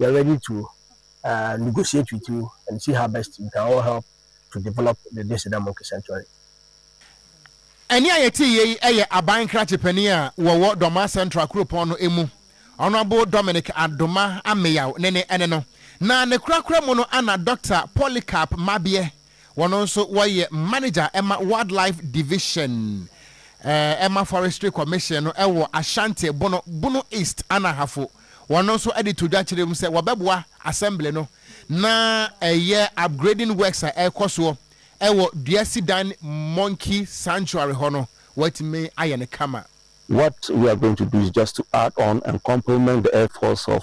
Yɛ ready to negotiate with you and see how best we can all help to develop the Deseda Monkey Sanctuary. Ɛnne a yɛteeɛ yi yɛ Aban Nkrakye Panin a wɔwɔ Dormaa Central Kuropɔn no mu, Honourable Dominic Adoma Ameyaw ne ne ɛne no, na ne korakora mu no ana Doctor Polycarp Mabiɛ Wɔno nso wɔyɛ manager ma Wildlife Division ma Forestry Commission no wɔ Ashanti Bono, Bono East, Anahafo. Wɔno nso de to dwa kyerɛ mu sɛ wɔbɛboa Assembly no na ɛyɛ upgrading works a ɛrekɔ soɔ wɔ Dua Sidan Monkey Sanctuary hɔ no wɔatumi ayɛ no kama. What we are going to do is just to add on and complement the efforts of.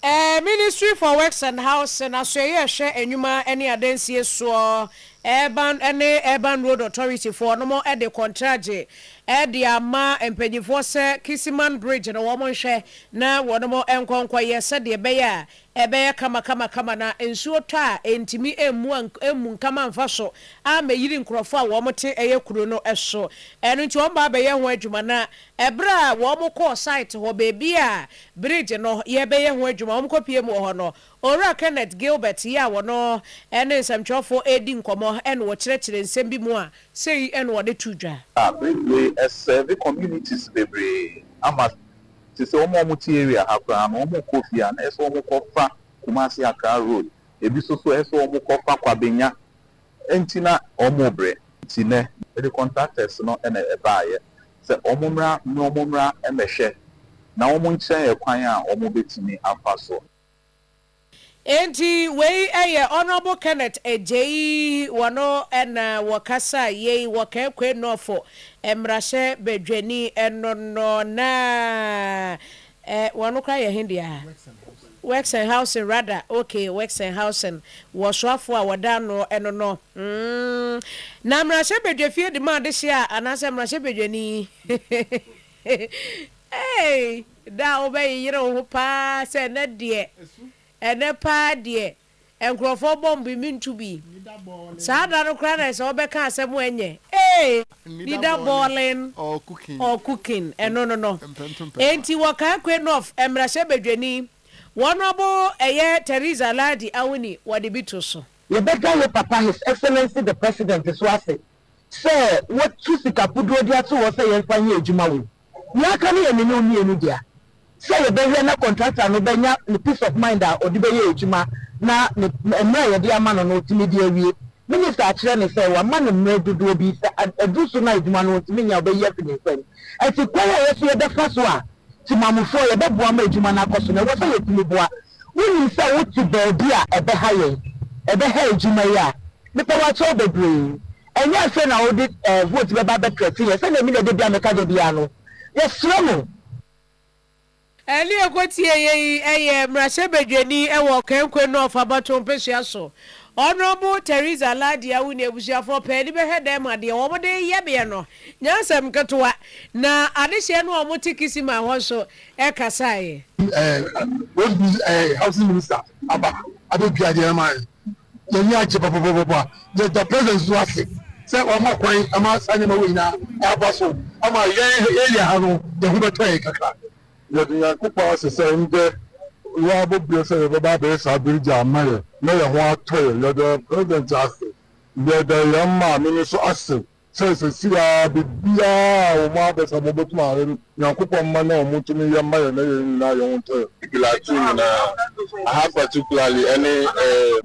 Ɛɛ Ministry for Works and Housing, Asoɛeɛ a ɛhwɛ Nnwuma ne Adansie soɔ, Urban ne Urban Road Authority foɔ, nom de kɔntragye de ama mpanyinfoɔ sɛ Kisiman Bridge no wɔn nhwɛ na wɔnom nkɔ nkɔ yɛ sɛdeɛ ɛbɛyɛ a ɛbɛyɛ kama kama kama na nsuo tɔ a ɛntumi mmu a mmu nkama mfa so ammɛyiri nkorɔfoɔ a wɔn te ɛyɛ kuro no so ɛno nti wɔn ba abɛyɛ ho adwuma na Ɛberɛ a wɔn kɔɔ site hɔ, baabi a bridge no yɛrebɛyɛ ho adwuma, wɔn kɔ pie mu wɔ hɔ no, Owura Kenneth Gilbert yi a wɔno ne nsɛmtwerɛfoɔ redi nkɔmmɔ na ɔkyerɛkyerɛ nsɛm bi mu a sei na wɔde too dwa. Na Bridgeway serve communities bebree ama te sɛ wɔn a wɔte area ha koraa no wɔn kɔ fie a na ɛsɛ sɛ wɔn kɔ fa Kumasi Accra road, ebi nso so ɛsɛ sɛ wɔn kɔ fa Kwabenya Enti na wɔrebrɛ, nti nnɛ mede contractors no na ɛbaeɛ sɛ wɔmmra na wɔmmra mmɛhwɛ na wɔnkyerɛ yɛn kwan a wɔbɛtumi afa so. Enti wei yɛ Honourable Kenneth Agyei, wɔno na wɔkasaa yei wɔ Kaekwei North Mmarahyɛ Badwani no no na Eh, wɔno koraa yɛ he dea? Wexenhausen, rather, ok, Wexenhausen, wɔ soafoɔ a wɔda ano no no, mm. Na mmarahyɛbadwa fie de ma adehye a, anaasɛ mmarahyɛbadwani? Ei, da a wobɛyeyere wo ho paa sɛ ɛnnɛ deɛ, ɛnnɛ paa deɛ. Nkurɔfoɔ bɔ mboe me ntu bi. Saa da no koraa na ɛsɛ wɔbɛka asɛm ho ɛnyɛ ee. Nida bɔɔlen or cooking ɛno no no. Enti wɔkae Quainoff mmarahyɛ badwani. Wɔn ɔbo ɛyɛ Theresa Lardy Awuni wɔde bi to so. Yɛbɛda yɛn papa His Excellency the President nso ase sɛ wotu sika puduo de ato hɔ sɛ yɛmfa nyɛ adwuma wom. Nea aka no yɛ me ne wo mmienu dea, sɛ yɛbɛhwɛ na kɔntrata no bɛnya ne peace of mind a ɔde bɛyɛ adwuma na ne mmerɛ a yɛde ama no no ɔtumi de awie. Minista akyerɛ no sɛ wama no mmerɛ dodoɔ bi, sɛ aduru so no a adwuma no ɔntumi nyɛ a ɔbɛyi afi ne nsam. Ɛnti kwan a yɛn nso yɛbɛfa so a Temamufoɔ yɛbɛboa ma adwuma no akɔ so no ɛwɔ sɛ yɛtumi boa wonim sɛ wote baabi a ɛbɛha yɛn, ɛbɛha adwuma yi a mepɛ wakyɛw bebree. Ɛnyɛ afei na wode eh, vote bɛba abɛtrɛte yɛn sɛnea me na da biara meka da biara no. Yɛsrɛ mo. Ɛne ɛkɔtieeɛ yi yɛ mmarahyɛbadwani wɔ Kankwe North abatoɔ mpesua so, Honourable Theresa Lardy Awu ne abusuafoɔ pɛ de bɛhwɛ dɛm adeɛ wɔde reyɛ beɛ no nyansɛm nketewa na adehyeɛ no a wɔte Kisiman hɔ nso ɛkasaeɛ. Wesby housing minister aba abɛdua adeɛ no ama yɛn. Yɛn ani agye papapapa. Yɛda president nso ase sɛ wama kwan ama saa nneɛma wei nyinaa aba so ama yɛn area ha no yɛn ho bɛtɔ yɛn kakra. Yɛde Nyankopɔn ase sɛ ndɛ wabɔ bia sɛ yɛbɛba abɛyɛ saa bridge a ama yɛn na yɛn ho atɔ yɛn. Yɛda president ase. Yɛda yɛn maame no nso ase Sɛ sesei ara biribiara a wɔn abɛ sɛ wɔbɛkum ayɛ no, Nyankopɔn mma na wɔn tumi yɛ mma yɛn na yɛn nyinaa yɛn ho ntɛɛ. Glatou nyinaa aha particularly ɛne ɛɛ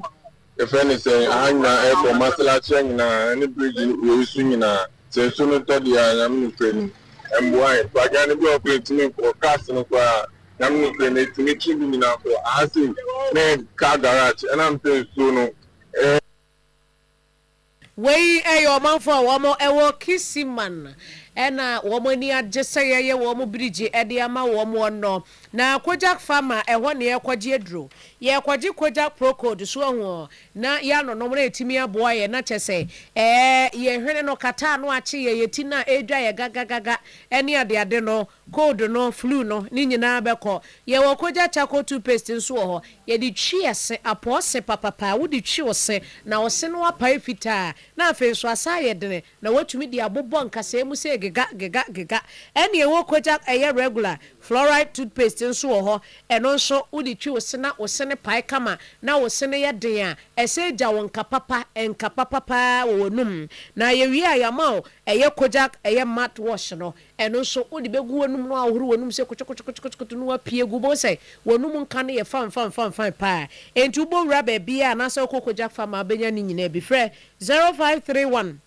yɛfrɛ no sɛn aha nyinaa ɛɛkɔ Masalakya nyinaa ɛne bridge no wei so nyinaa sɛ nsuo no tɔ deɛ a Nyame no pɛ nim ɛmboa yɛn koraa adwane bi wɔ hɔ koraa ɛntumi nkɔ cars no koraa Nyame no pɛ nim ɛtumi kye bi nyinaa kɔ aha sei me car garage ɛna mpɛ nsuo no ɛɛ Wei yɛ ɔmanfo a wɔn wɔ Kisiman na wɔn ani agye sɛ yɛyɛ wɔn birigye de ama wɔn wɔ nɔ na Kojak fa ma ɛhɔ na yɛkɔgye aduro. Yɛkɔgye Kojak procold so ahu ɔ na yanonom na ɛtumi aboa yɛn na kyɛ sɛ ɛɛ yɛn hwene no kata ano akye yɛn yɛn ti no a ɛredwa yɛn gagagaga ne adeade no. Cold no, flu no, ne nyinaa bɛkɔ. Yɛwɔ Kogya Charcoal Toothpaste nso wɔ hɔ. Yɛde twi ɛse, apɔw se papapaa. Wode twi wo se, na wo se no apae fitaa, na afei nso asan ayɛ dene, na woatumi de abobɔ nkasɛɛ mu se gega, gega, gega. Ɛnna yɛwɔ Kogya ɛyɛ regular, fluoride toothpaste nso wɔ hɔ. Ɛno nso, wode twi wo se na wo se no pae kama, na wo se no yɛ den a, ɛsɛ gya wo nka papa, nka papa paa wɔ w'anum. Na yɛwie a, yɛama wo ɛyɛ Kogya ɛyɛ mouthwash no. Ɛno nso, wode bɛgu w'anom na woahohoro w'anom sɛ kotokotokotokoto na woapue agu. Wobɛhu sɛ w'anom nka no yɛ fanfanfanfan paa. Enti wobɔ wura baabiara anaasɛ wokɔ kogya fa ma wobɛnya ne nyinaa bi. Frɛ 0531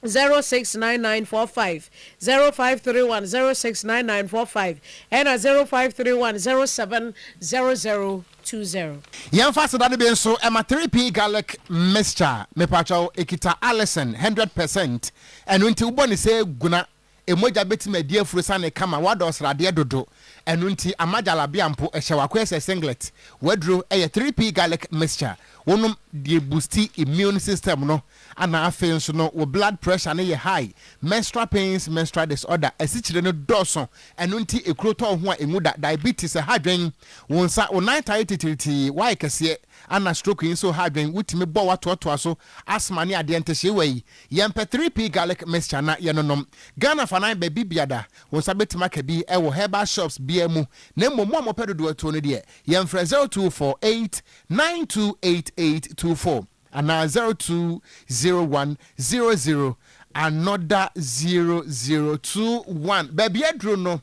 069945, 0531 069945, ɛna 0531 0700. two zero. Yɛnfa sedade bi nso ma three pea garlic mixture mepakyɛw ɛkita allicin hundred percent ɛno nti wobɔ ne sɛ gu na ɛmogya bɛtumi adi afuro sane kama woadɔ sradeɛ dodo ɛno nti ama jalabia mpo ɛhyɛ wakoyɛ sɛ singlet waduro ɛyɛ three pea garlic mixture wonom deɛ boosti immune system no Ana afei nso no wo blood pressure no yɛ high, menstrual pains, menstrual disorder, asikyire no dɔɔso, ɛno nti ekuro tɔ wo ho a enwu da, diabetes, ɛha adwen, wo nsa, wo nan taa yɛ titiritii, woayɛ kɛseɛ, ana stroke yi nso reha adwen, wotumi bɔ watoatoa so, asthma ne adeɛ, ntehyeewa yi, yɛmpɛ 3P garlic mixture na yɛnonom. Ghana fanan baabi biada, wo nsa bɛtumi aka bi wɔ herbal shops biara mu, na mmom mo a mopɛ dodoɔ atuo no deɛ, yɛmfrɛ 0248 928824. Anaa zero two zero one zero zero another zero zero two one baabi aduro no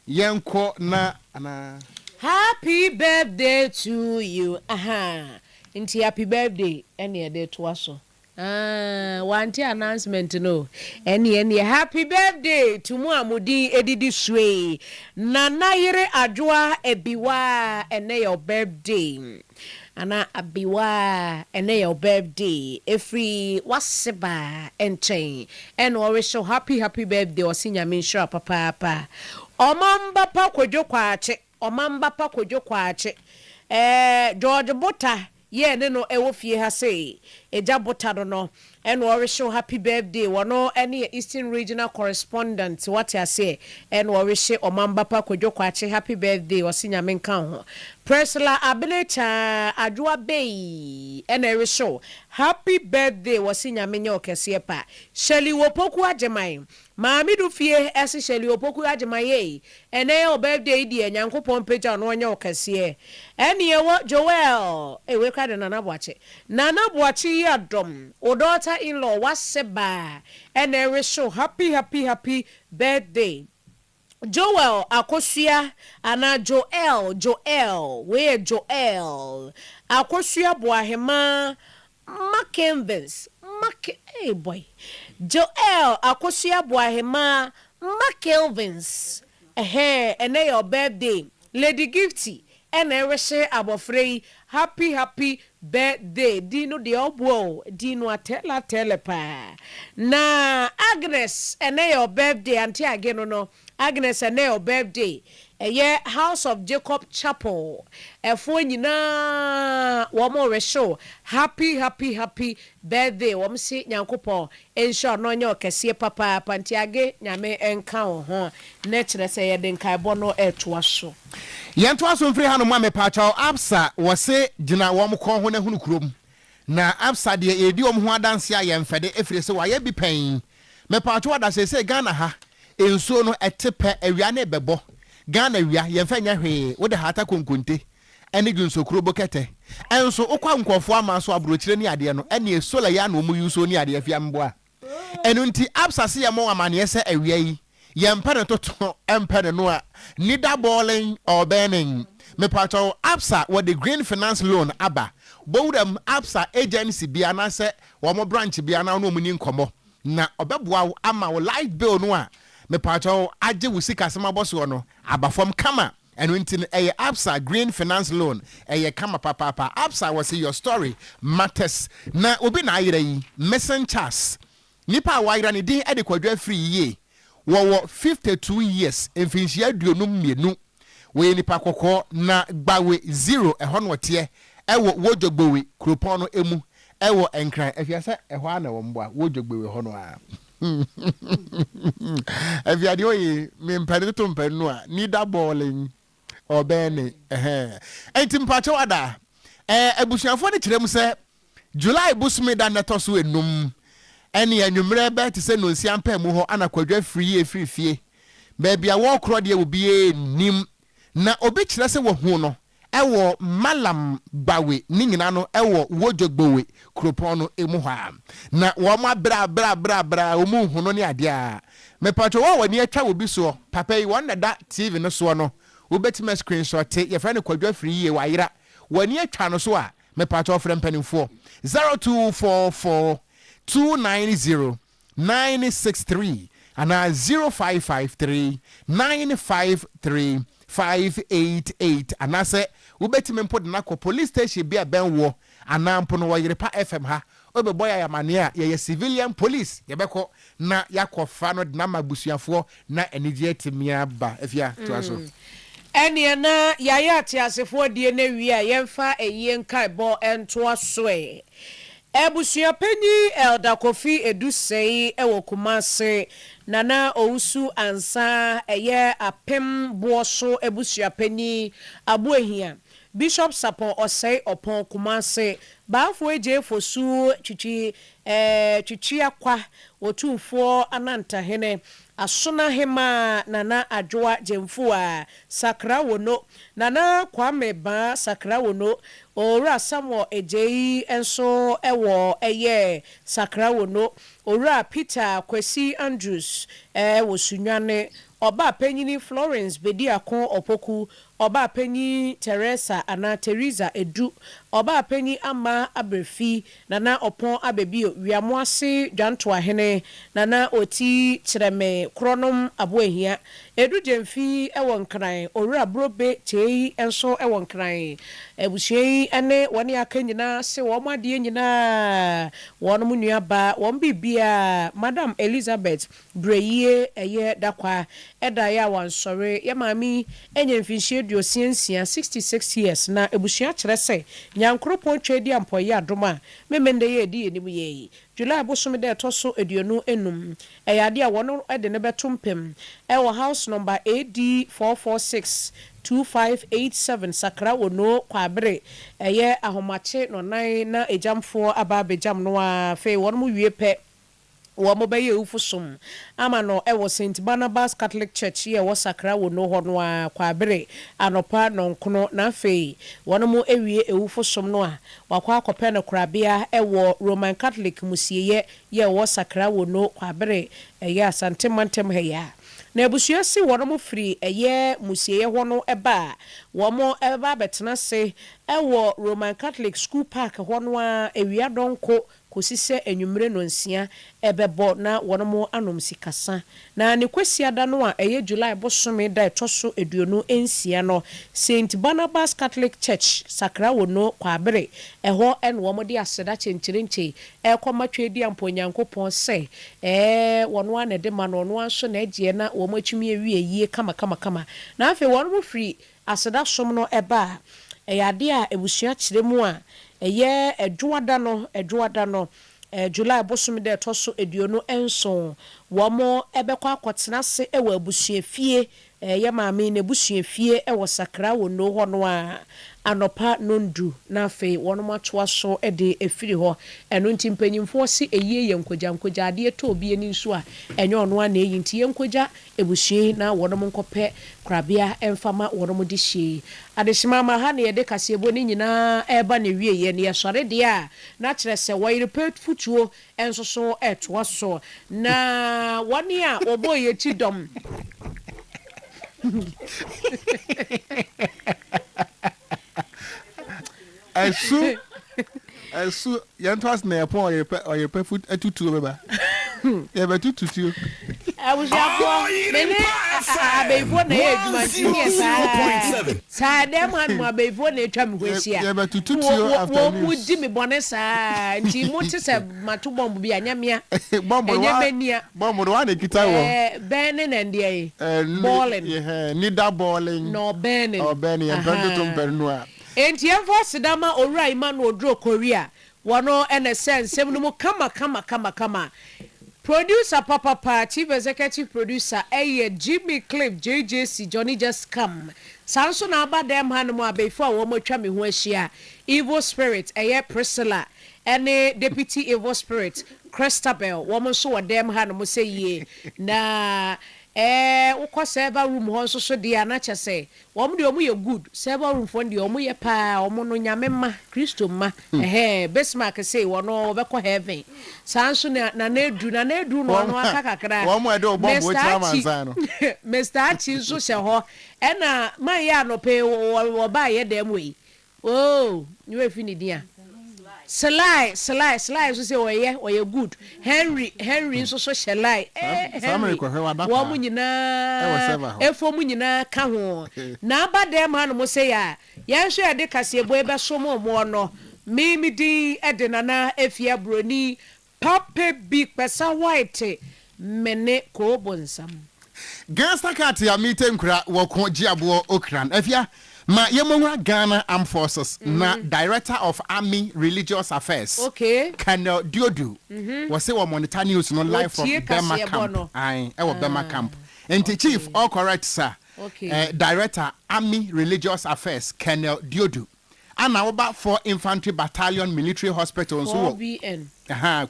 yɛn kɔ na anaa. Happy birthday to you ahaa nti happy birthday ɛne yɛde toa so aah wante announcement no ɛne ɛneɛ happy birthday to mo a mo din ɛdidi soe Nana yere Adwoa Abiwaa ɛnɛ yɛ wo birthday. Ana Abiwa ɛnɛ yɛ wo birthday ɛfiri wase ba nkyɛn ɛna ɔrehyɛ wo happy happy birthday ɔse nyame nhyira papaapa ɔmamba pa kwadwo kwakye ɔmamba pa kwadwo kwakye ɛɛ George Bota yɛ ne no ɛwɔ fie ha sei agya Bota no no Ɛna ɔrehyɛ wo happy birthday wɔ no ɛne yɛ eastern regional correspondent wate aseɛ ɛna ɔrehyɛ ɔmanba pa kwadwo kwakye happy birthday ɔse nyame nka wo ho Priscilla abene kyaa adwo abei ɛna ɛrehyɛ wo happy birthday ɔse nyame nyɛ wo kɛseɛ pa Shirley Opoku Agyeman Maame do fie ɛse Shirley Opoku Agyemayeyi ɛnɛ yɛ wo birthday yi deɛ Nyankopɔn mpagya wo na ɔnyɛ wo kɛseɛ ɛne ɛwɔ Joel ei wei koraa de Nana Boakye Nana Boakye yi adom wo daughter in law wase baa ɛna ɛrehye wo happy happy happy birthday. Joel Akosua anaa Joel Joel, wei yɛ Joel Akosua Boahemaa Mackenvis Mac ei boy Joel Akosua Boahemaa Mackenvis ɛhɛɛ ɛnɛ yɛ ɔ birthday Lady Gifty Ɛna ɛrehyɛ abɔfra yi happy happy birthday din no deɛ ɔboa o din no atɛɛlɛ atɛɛlɛ paa na Agnes ɛnɛ yɛ ɔ birthday auntie age no no Agnes ɛnɛ yɛ ɔ birthday ɛyɛ house of Jacob chapel ɛfoɔ nyinaa wɔn rehyɛ o happy happy happy birthday wɔn se Nyankopɔn nhyɛ ɔno ɔnyɛ ɔkɛseɛ papaapa auntie age Nyame nka wo ho na ɛkyerɛ sɛ yɛde nkaebɔ no ɛtoa so. Yɛntoa so mfiri hanom a mepaakyɛw Absa wɔse gyina wɔn kɔn ho na hunu kurom na Absa deɛ yɛredi wɔn ho adanseɛ a yɛnfɛde efirese wayɛ bi pɛn mepaakyɛw ada seesei Ghana ha nsuo no ɛte pɛ awia no rebɛbɔ Ghana awia yɛnfɛ nyɛ hwee wode haata konkonte ɛne dwonsokuro bokɛtɛ ɛnso wokɔ a nkurɔfoɔ ama so abrokyire ne adeɛ no ɛneɛ solar yi a na wɔn use o ne adeɛ hwɛ mboa Ɛno nti, Absa se yɛmmɔ wo amanneɛ sɛ awia yi, yɛmpɛ no toto, ɛmpɛ no noa, neither boiling or burning. Mepakyɛ wo, Absa, wɔde Green Finance Loan aba? Bɔ wuram Absa agency bi anaasɛ wɔn branch bi na wo ne wɔn nni nkɔmmɔ, na wɔbɛboa wo ama wo light bill no a mepakyɛ wo agye wo sikasɛm abɔ soɔ no aba fam kama. Ɛno nti no ɛyɛ Absa green finance loan ɛyɛ kama papaapa Absa wɔ se your story matters na obi na ayera yi Missing Charles nipa a wayera ne din ɛde Kwadwo Afiri yie wɔ wɔ fifty two years mfinhyia aduonum mmienu wɔyɛ nipa kɔkɔɔ na Gbawe zero ɛhɔ na ɔteɛ ɛwɔ Wodjogbowe kuropɔn no ɛmu ɛwɔ Nkran ɛhwɛ sɛ ɛhɔ ara na ɛwɔ mboa Wodjogbowe hɔ no ara. afiade oye mempɛne toto mpɛne no a nida bɔɔlen ɔbɛne ɛnti mpakyɛw ada abusuafoɔ no kyerɛ mu sɛ july bosome da nnɛtɔ so enum ɛne anwummerɛ bɛɛ te sɛ nonsia mpaa mu hɔ ana kwadwa firi yie firi fie baabi a wɔrekorɔ deɛ obiara nim na obi kyerɛ sɛ wahu no wɔ Mallam Gbawe ne nyina no wɔ Wodjo Gbowe kuropɔn no mu hɔ a, na wɔn abrɛ abrɛ abrɛ abrɛ a wɔn nhu no ne adeɛ a. Mepakyɛ wo a w'ani atwa obi soɔ, papa yi wɔn na ɛda TV no soɔ no, wobɛtumi a screenshɔte, yɛfrɛ no Kwadwo Afriyie, wayera, w'ani atwa no so a, mepakyɛ wo frɛ mpaninfoɔ, zero two four four two nine zero nine six three anaa zero five five three nine five three five eight eight anaasɛ wobɛtumi mpo de no akɔ police station bi a ɛbɛn woɔ anaa mpo no wɔ Yerepa FM ha wobɛbɔ yɛn amaneɛ a yɛyɛ civilian police yɛbɛkɔ na yɛakɔfa no de no ama abusuafoɔ Na anigyeɛ tebea ba. Afia, toa so. Ɛneɛ na yayɛ ateasefoɔ deɛ no awie a yɛmfa ayie nkaebɔ ntoa so ɛ. Abusuapanyin Elder Kofi Edu Sɛi wɔ Kumase, Nana Owusu Ansah ɛyɛ Apem boɔ so abusuapanyin, Aboahia, Bishop Sapon Osei Opon, Kumase, Baafo Adjei Fosu, Twitwi Ɛɛ Twitwia Kwa, Otumfoɔ Anantahene, Asonahemaa Nana Adwoa Gyamfuaa, Sakra Wono, Nana Kwame Baa Sakra Wono, Owura Samuel Adjei nso wɔ ɛyɛ Sakra Wono, Owura Peter Kwasi Andrews wɔ Sunyani, Ɔba Panyini Florence Bediako Opoku Ɔbaapanyin Teresa anaa Theresa Edu, Ɔbaapanyin Amma Aberfi, Nana Ɔpɔn Abebio, Wiamoase Dwantoahene, Nana Oti, Kyerɛme, Korɔnom Aboahia, Edu Gyamfi wɔ Nkran, Owura Brobe Kyei nso wɔ Nkran. Abusua yi ne wɔn a aka nyinaa se wɔn adeɛ nyinaa, wɔn nuabaa, wɔn biribiara, Madam Elizabeth Brɛyie ɛyɛ dakwaa ɛda yɛ a wansɔre yɛ maame yi anya mfinhyia aduosia nsia, 66 years, na abusua kyerɛ sɛ Nyankoropɔn twa adi ampɔ ɛyɛ adom a memenda yi a ɛdi yɛnim yɛ yi July bosome da ɛtɔ so aduonu ɛnum ɛyɛ adeɛ a wɔn de no bɛto mpem ɛwɔ house number AD 446 2587 Sakra Onoo Kwabere ɛyɛ ahomakye nɔnan na agyamfoɔ aba abɛgyam no ara afei wɔn wie pɛ Wɔbɛyɛ awufo som ama no wɔ Saint Barnabas Catholic Church yi a ɛwɔ Sakra Wono hɔ no ara Kwaabere anɔpa nnɔnkono na afei wɔawie awufo som no a, wɔakɔ akɔpɛ no korabea wɔ Roman Catholic Mmusieɛ yi a ɛwɔ Sakra Wono, Kwaabere, ɛyɛ Asante mantam ha yi a. Na abusua si wɔn firi ɛyɛ mmusieɛ hɔ no ba a, wɔbɛba abɛtena ase wɔ Roman Catholic School Park hɔ no ara awia dɔnko kɔsi sɛ anwummere nnɔnsia rebɛbɔ na wɔanom sikasa, na ne Kwasiada no a ɛyɛ July bosome da a ɛtɔ so aduonu nsia no, Saint Barnabas Catholic Church, Sakrawo no, Kwabere, ɛhɔ na wɔde aseda kyenkyerenkye rekɔma Tweduampɔ Onyankopɔn sɛ ɛɛ ɔno ara na ɛde ma no, ɔno ara nso na ɛgyeɛ na wɔatumi awie ayie kamakamakama. Na afei wɔfiri Aseda som no ba a, ɛyɛ adeɛ a abusua kyerɛ mu a ɛyɛ Dwoada no, Dwoada no, July bosome da a ɛtɔ so aduonu nson. Wɔbɛkɔ akɔtena ase wɔ abusuafie, yɛ maame yi n'abusuafie wɔ Sakra wɔ Nnoo hɔ no ara, anɔpa nnɔndu na afei wɔatoa so de afiri hɔ. Ɛno nti mpanyimfoɔ se ayie yɛ nkogya, nkogya adeɛ tɔ obi ani nso a, ɛnyɛ ɔno ara na ayi nti yɛnkogya abusua yi na wɔnom nkɔpɛ korabea mfa ma wɔnom de sie. Adehyema ama ha na yɛde kaseɛbɔ no nyinaa reba n'awieɛ na yɛsɔre deɛ a na kyerɛ sɛ wɔyere pɛ fotuo nso so toa so na wɔn a wɔbɔ yɛn akyi dɔm. Ɛso ɛso yɛn to ase na yɛ pɔn ɔyere pɛ ɔyere pɛ fo atutuo bɛba yɛ bɛ tututuo. Abusuafoɔ me ne abɛyifoɔ na ɛyɛ adwuma nti ne yɛ saa saa dɛm ha nom abɛyifoɔ na atwa me ho ahyia wɔn mu di me bɔne saa nti mo te sɛ mato bɔmbo bi a nyɛ mea ɛnyɛ mɛ nia. Bɔ mo no woa na ɛkita wɔ. Ɛɛ bɛɛne na ɛndeɛ ye bɔɔlen. Ɛhɛɛ nida bɔɔlen. Na ɔbɛɛnen. Ɔbɛɛnen yɛ mpɛn dodo mpɛn no a. Enti yɛmfa aseda ma Owura Emmanuel Duro Korea, wɔno na ɛsɛ nsɛm no mu kama kama kama kama. Producer papapa, Chief Executive Producer ɛyɛ Jimmy Cliff JJC, Johnny Just Come. Saa nso na aba dɛm hanom a bɛyifoɔ a wɔatwa me ho ahyia, Evil Spirit ɛyɛ Priscilla, ɛne Deputy Evil Spirit, Christabel, wɔn nso wɔ dan mu hanom sɛ yie. Na ɛɛ wokɔ server room hɔ nso so deɛ a na kyɛ sɛ, wɔn deɛ wɔyɛ good, server room foɔ no deɛ wɔyɛ pa ara, wɔn no Nyame mma, Kristo mma, ɛhɛɛ, Bismarck sei wɔn no ɔbɛkɔ heaven, saa nso na Nana Adu, Nana Adu no ɔno aka kakra, Mister Archie, Mister Archie nso hyɛ hɔ, ɛna man yɛ anɔpa yi wɔbaayɛ dɛm wei, Ooh ne werɛ fi ne din a? Sly Sly Sly nso sɛ ɔyɛ ɔyɛ good Henry Henry nso so hyɛ line eh Henry wɔn nyinaa efo mu nyinaa ka ho na aba dɛm hanom sei a yɛnhwɛ yɛde kaseɛbɔ yi bɛsom wɔn no me me din de Nana Efia Broni Papa bi kpɛsa white mene koo bonsam. Gangsta cat ya me te nkura wɔ ko gye aboɔ okran afia ma yɛ mɔhura Ghana armed forces na director of army religious affairs Okay. Colonel Diodu wɔ se wɔ monitor news no live from Wɔtie Bema kaseɛbɔ camp no. ae ɛwɔ Bema camp Ah, nti chief okay. all correct sir Okay. eh, director army religious affairs Colonel Diodu. Ana woba four infantry battalion military hospital nso wɔ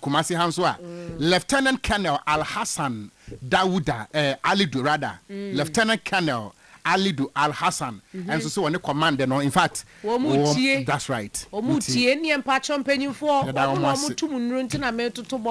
Kumasi ha nso a Lieutenant Colonel Alhassan Dawuda eh, Alidu rather Lieutenant Colonel Alidu Alhassan ɛnso so wɔ ne command no in fact wɔn that's right wɔn tie ne mpakyɛ mpanyinfoɔ wɔn na wɔn tum nnuro nti na metoto bɔ